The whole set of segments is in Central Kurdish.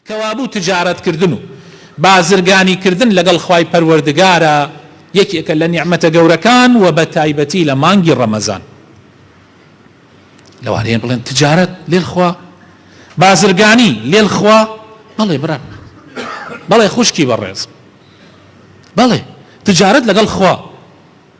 کەوابوو تجارەتکردن و بازرگانیکردن لەگەڵ خوای پەروەردگارا یەکێکە لە نیعمەتە گەورەکان وە بەتایبەتی لە مانگی ڕەمەزان لەوانەیە بڵێن تجارەت لێل خوا بازرگانی لێل خوا بەڵێ برا بەڵێ خوشکی بەڕێز بەڵێ تجارەت لەگەڵ خوا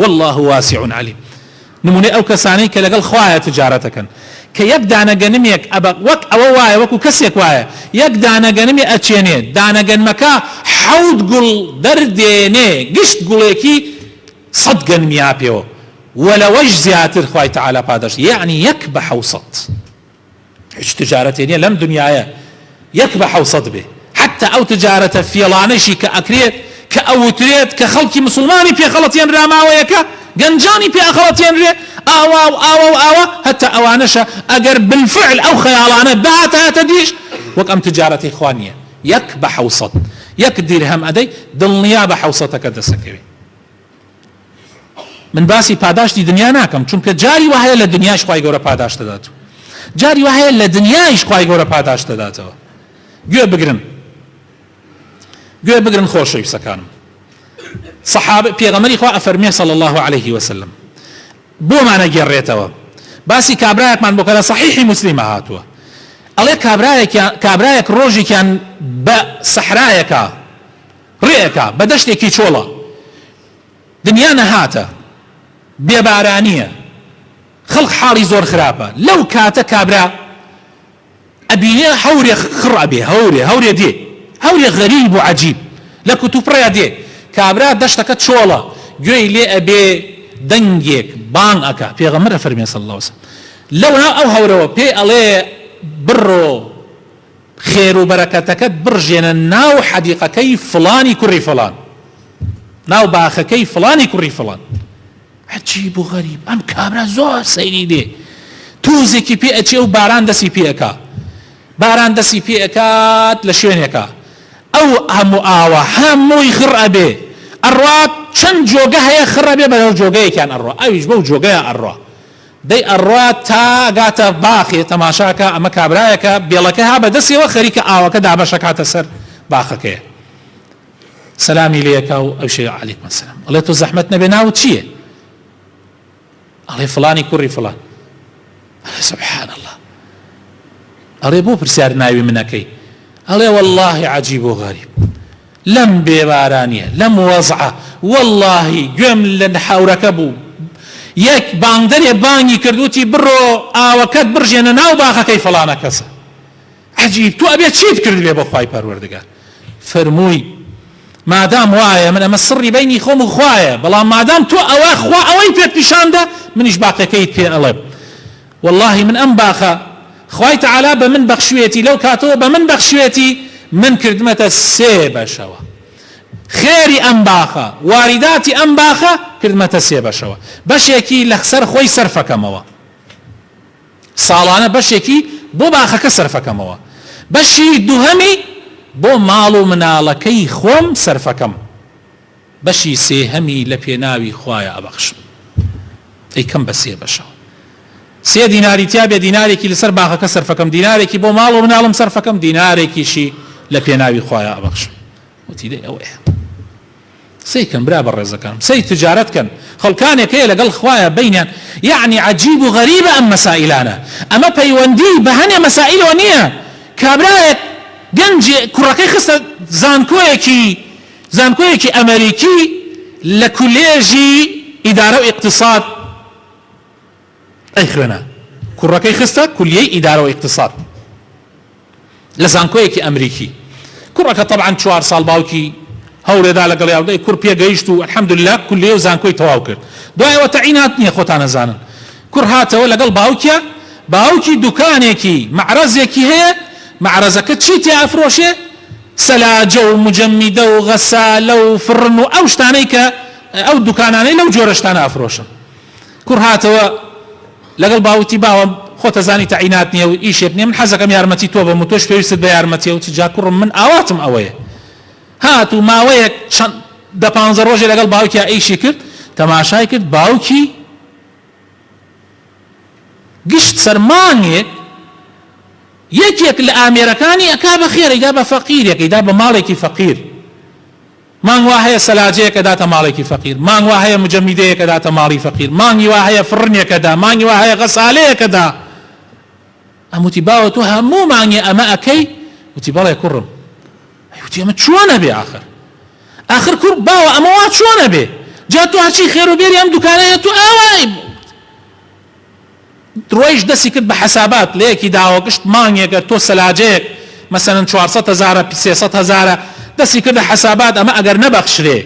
واللە واسع علیم نمونەی ئەو کەسانەی کە لەگەڵ خوایە تجارەت ئەکەن کە یەک دانە گەنمێک ئەبە وەک ئەوە وایە وەکو کەسێک وایە یەک دانە گەنمی ئەچێنێ دانە گەنمەکە حەوت گوڵ دەردێنێ گشت گوڵێکی سەد گەنمیا پێوە ولەوەش زیاتر خوای تعالی پاداشت یەعنی یەک بە حەوسەت. هیچ تجارەتێ نیە لەم دنیایە یەک بە حەوسەد بێ حەتتا ئەو تجارەتە فێڵانەشی کە ئەکرێت کە ئەوترێت کە خەڵکی مسوڵمانی پێ خەڵەتێنرا ماوەیەکە گەنجانی پێ ئەخەڵەتێنرێ ئاوا و ئاوا و ئاوا هەتا ئەوانەشە ئەگەر بالفعل ئەو خەیاڵانە بهاتایەتە دیش وەک ئەم تجارەتەی خوا نیە یەک بە حەوسەد یەک دیرهەم ئەدەی دڵنیابە حەوسەتەکە دەسەکەوێ. من باسی پاداشتی دنیا ناکەم چونکە جاری وهەیە لە دنیاش خی گەورە پاداشت دەدات و جاری وهەیە لە دنیایش خی گەورە پاداشت دەداتەوە گوێ بگرن گوێ بگرن خۆشەویستەکانم صحاب پێغەمەری خوا ئەفەرمێ صلی الله عليه وسلم بۆمانە گێڕێتەوە باسی کابراەکمان بۆ کەە صحیحی مسللیمە هاتووە ئەڵێ کابراەک کابراەک ڕۆژێکیان بە سەحرایەکە ڕێئەکا بە دەشتێکی چۆڵە. دنیا نەهاتە بێ بارانیە خەڵک حاڵی زۆر خراپە لەو کاتە کابرا ئەبینێ هەورێ خڕ ئەبێ هەورێ هەورێ دێ هەورێ غەریب و عەجیب لە کوتوپڕێا دێ کابرا دەشتەکە چۆڵە گوێی لێ ئەبێ دەنگێک بانگ ئەکا پێغەمبەر ئەفەرمێ صلی اللە وسلم لەو ئەو هەورەوە پێی ئەڵێ بڕۆ خێرو بەرەکەتەکەت بڕژێنە ناو حەدیقەکەی فڵانی کوڕی فڵان ناو باخەکەی فڵانی کوڕی فڵان هەچی بۆ غەریب ئەم کابرا زۆر سەیری بێ توزێکی پێ ئەچێ و باران دەسی پێەکە باران دەسی پێەکات لە شوێنێکە ئەو هەموو ئاوە هەمووی خڕ ئەبێ ئەڕات چەند جۆگە هەیە خڕە بێ بەەو جۆگەیەکیان ئەڕۆ ئەویش بەو جۆگەیە ئەڕۆ دەی ئەڕوات تا گاتە باخێ تەماشا کا ئەمە کابرایەکە بێڵەکە ها بەدەسیەوە خەریکە ئاوەکە دابەش ئەکاتە سەر باخەکەیە سەلامی لێ ئەکا و ئەوشێ علیکم السلام ئەڵێ تۆ زەحمەت نەبێ ناوت چییە ئەڵێ فڵانی کوڕی فڵان سبحان الله ئەڵێ بۆ پرسیار ناوی منەکەی ئەڵێ واللهی عجیب و غەریب لەم بێ بارانیە لەم وەزعە وەڵاهی گوێم لە هاورەکە بوو یەک بانگدەرێ بانگی کرد وتی بڕۆ ئاوەکەت بڕژێنە ناو باخەکەی فڵانە کەسە عەجیب تۆ ئەبێ چیت کردبێ بۆ خوای پەروەردگار فەرمووی مادام وایە من ئەمە سڕی بینی خۆم و خوایە بەڵام مادام تۆ ئەوە خوا ئەوەی پێت پیشاندە منیش باقەکەیت پێ ئەڵێم وەڵاهی من ئەم باخە خوای تەعالا بە من بەخشویەتی لەو کاتەوە بە من بەخشویەتی من کردمەتە سێ بەشەوە خێری ئەم باخە واریداتی ئەم باخە کردمەتە سێ بەشەوە بەشێکی لە سەر خۆی سەرفەکەمەوە ساڵانە بەشێکی بۆ باخەکە سەرفەکەمەوە بەشی دووهەمی بۆ ماڵ و مناڵەکەی خۆم سەرفەکەم بەشی سێهەمی لە پێناوی خوایە ئەبەخشم ئەیکەم بە سێ بەشەوە سێ دیناری تیا بێ دینارێکی لەسەر باغەکە سەرفەکەم دینارێکی بۆ ماڵ و مناڵم سەرفەکەم دینارێکیشی لە پێناوی خوایە ئەبەخشم وتی لێ ئەوەیە سەیکەن برا بە ڕێزەکەم سەی تجارەت کەن خەڵکانێک هەیە لەگەڵ خوایە بینیان یعنی عجیب و غەریبە ئەم مەسائلانە ئەمە پەیوەندی بە هەنێ مەسائلەوە نییە کابرایەک گەنج کوڕەکەی خستە زانکۆیەکی زانکۆیەکی ئەمەریکی لە کولێژی ئیدارە و ئیقتساد ئەیخوێنا، کوڕەکەی خستە کولیەی ئیدارە و ئیقتساد لە زانکۆیەکی ئەمریکی، کوڕەکە تەبعەن چوار ساڵ باوکی هەولێدا لەگەڵیا بوو، دەی کوڕ پێگەیشت و الحمدللە کولیە و زانکۆی تەواو کرد، دوای ئەوە تەعین هات نیە خۆتان ئەزانن، کوڕ هاتەوە لەگەڵ باوکیا، باوکی دوکانێکی، مەعرەزێکی، هەیە، مەعرەزەکە چی تیا ئەفرۆشێ؟ سەلاجە و مجەمیدە و غەسالە و فڕن و ئەو شتانەی کە ئەو دوکانانەی لەو جۆرە شتانە ئەفرۆشن. کوڕ هاتەوە لەگەڵ با وتی باوە خۆت ئەزانی تەعینات نیە و ئیشێک نیە من حەزەکەم یارمەتی تۆ بەم و تۆش پێویستت بە یارمەتیە وتی جا کوڕم من ئاواتم ئەوەیە. هات و ماوەیەک چەند دە پانزە ڕۆژێ لەگەڵ باوکیا ئیشی کرد تەماشای کرد باوکی گشت سەر مانگێک یەکێک لە ئامێرەکانی ئەکا بە خێر ئەیدا بە فەقیرێک ئەیدا بە ماڵێکی فەقیر مانگ وا هەیە سەلاجەیەک ئەداتە ماڵێکی فەقیر مانگ وا هەیە مجەمیدەیەک ئەداتە ماڵی فەقیر مانگی وا هەیە فڕنێک ئەدا مانگی وا هەیە غەسالەیەک ئەدا ئەم وتی باوە تۆ هەموو مانگێ ئەمە ئەکەی وتی بەڵێ کوڕم ئەی وتی ئەمە چۆن ئەبێ ئاخر ئاخر کوڕ باوە ئەمە وا چۆن ئەبێ جا تۆ هەرچی خێرو بێری ئەم دوکانەیە تۆ ئاوای ڕۆیشت دەستی کرد بە حەسابات لەیەکی داوە گشت مانگێکە تۆ سەلاجەیەک مەسەلەن چوار سەد هەزارە پی سێ سەد هەزارە دەستی کردە حەسابات ئەمە ئەگەر نەبەخشرێ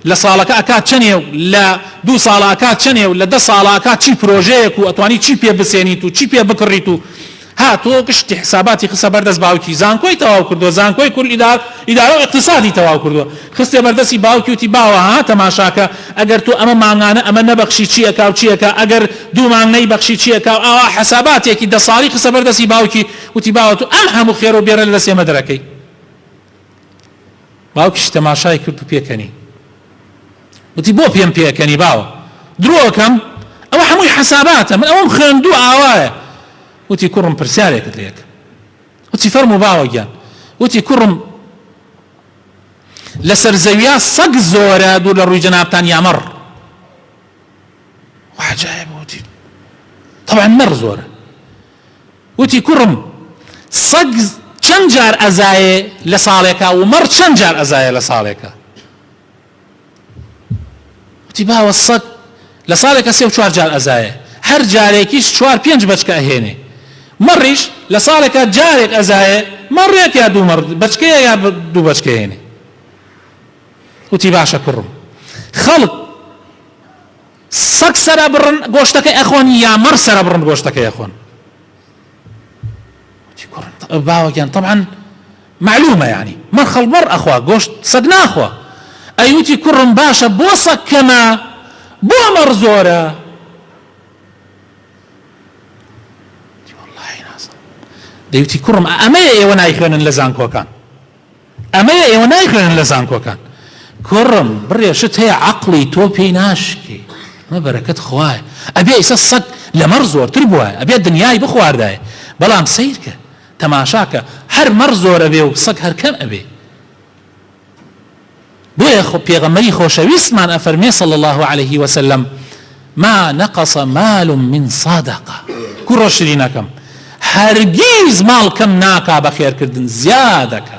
لە ساڵەکە ئەکات چەنێ و لە دوو ساڵە ئەکات چەنێ و لە دە ساڵە ئەکات چی پرۆژەیەک و ئەتوانی چی پێ بسێنیت و چی پێ بکڕیت و هاتووە و گشتی حساباتی خستە بەر دەست باوکی، زانکۆی تەواو کردووە، زانکۆی کورد ئیدارە و ئیقتیسادی تەواو کردووە، خستیە بەر دەستی باوکی وتی باوە ها تەماشاکە ئەگەر تۆ ئەمە مانگانە ئەمە نەبەخشی چی ئەکا و چی ئەکا، ئەگەر دوو مانگ نەیبەخشی چی ئەکا و ئاوا حساباتێکی دە ساڵی خستە بەر دەستی باوکی وتی باوە تۆ ئەم هەموو خێرە و بێرە لە دەست ئێمە دەرەکەی. باوکیشی تەماشای کرد و پێکەنی. وتی، بۆ پێم پێکەنی باوە؟ درۆ ئەکەم؟ ئەوە هەمووی حەساباتە، من ئەوەم خوێندووە ئاوایە. وتی، کوڕم پرسیارێکت لێ ئەکەم. وتی، فەرموو باوە گیان. وتی، کوڕم لەسەر زەویا سەگ زۆرە دوور لە ڕووی جەنابتان یا مەڕ؟ وەعجایب وتی، تەبعەن مەڕ زۆرە. وتی کوڕم سەگ چەند جار ئەزایێ لە ساڵێکا و مەڕ چەند جار ئەزایێ لە ساڵێکا؟ وتی باوە سەگ لە ساڵێکە سێ و چوار جار ئەزایێ هەر جارێکیش چوار پێنج بەچکە ئەهێنێ مەڕیش لە ساڵێکا جارێک ئەزایێ مەڕێک یا دوو مەڕ بەچکەیە یا دوو بەچکە هێنێ وتی باشە کوڕم خەڵک سەگ سەرە بڕن گۆشتەکەی ئەخۆن یا مەڕ سەرە بڕن گۆشتەکەی ئەخۆن وتی کوڕم باوە گیان طبعا معلومە یعنی مەڕ خەڵ مەڕ ئەخوا گۆشت سەگ ناخوا ئەی وتی کوڕم باشە بۆ سەگ کەمە بۆ مەڕ زۆرە دەیوتی کوڕم ئەمەیە ئێوە نایخوێنن لە زانکۆکان ئەمەیە ئێوە نایخوێنن لە زانکۆکان. کوڕم بڕێ شت هەیە عەقڵی تۆ پێی ناشکێ ئەمە بەرەکەت خوایە ئەبێ ئیسە سەگ لەمەڕ زۆرتر بوایە ئەبێ دنیای بخواردایە بەڵام سەیرکە تەماشاکە هەر مەڕ زۆر ئەبێ و سەگ هەر کەم ئەبێ. بۆیە پێغەمبەری خۆشەویستمان ئەفەرمێ صلی اللە علیە وسلم، ما نقص مال من صدقە، کوڕە شرینەکەم هەرگیز ماڵ کەم ناکا بە خێرکردن زیادەکا.